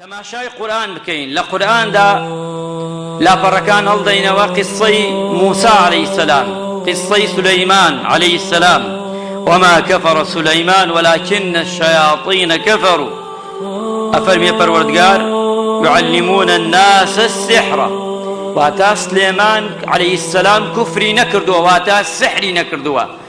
تەماشای قورئان بکەین لە قورئاندا لاپەڕەکان هەڵدەینەوە قیسەی موسی علیە السلام قیسەی سلیمان علیە السلام وما کفر سلیمان ولكن الشیاطین کفروا ئەفەرمیێ پەروەردگار يعلمون الناس السحر واتا سلێمان عليه السلام کوفری نەکردووە واتا سحری نەکردووە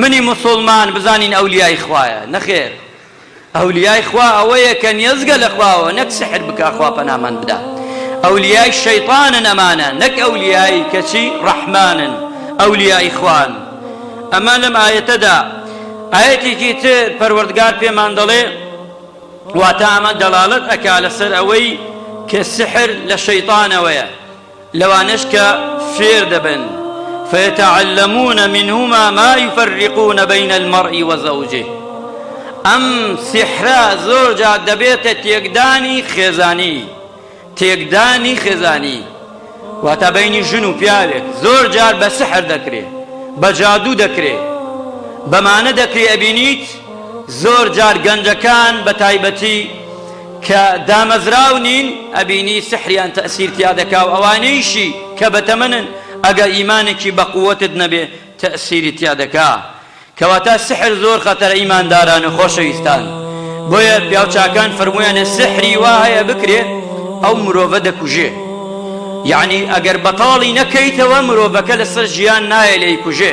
منی موسوڵمان بزانین ئەولیای خوایە نەخێر ئەولیای خوا ئەوەیە کە نیەزگە لە خواوە نەک سحر بکا خوا پەنامان بدا ئەولیای شەیطانن ئەمانە نەک ئەولیای کەچی ڕەحمانن ئەولیای خوان ئەمە لەم ئاەتەدا ئاەتێکی تر پەروەردگار پێمان دەڵێ واتا ئەمە دەڵالت ئەکا لەسەر ئەوەی کە سحر لە شەیطانەوەیە لەوانەش کە فێر دەبن، فیتعلمون منهما ما یفرقون بین المرء و زوجه، ئەم سیحرە زۆر جار دەبێتە تێکدانی خێزانی، تێکدانی خێزانی واتە بەینی ژن و پیاوێک زۆر جار بە سحر دەکرێ، بە جادوو دەکرێ، بەمانە دەکرێ ئەبینیت زۆر جار گەنجەکان بە تایبەتی، کە دامەزراو نین ئەبینی سحریان تەئسیر تیا دەکا و ئەوانەیشی کە بەتەمەنن ئەگە ئیمانێکی بەقوەتت نەبێ تەئسیری تیا دەکا کەواتا سحر زۆر خەتەرە ئیمانداران و خۆشەویستان بۆیە پیاوچاکان فەرموویانە سحری وا هەیە بکرێ ئەو مرۆڤە دەکوژێ یەعنی ئەگەر بەتاڵی نەکەیتەوە مرۆڤەکە لەسەر ژیان نایە لێیکوژێ.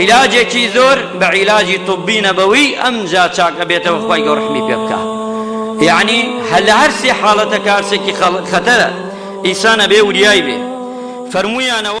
عیلاجێکی زۆر بە عیلاجی طبی نەبەوی ئەمجا چاک ئەبێتەوە خوای گەو ڕەحمی پێ بکا یەعنی هە لە هەر سێ حاڵەتەکە هەرسێکی خەڵ خەتەرە ئیسان ئەبێ وریای بێ فەرموویانەوە.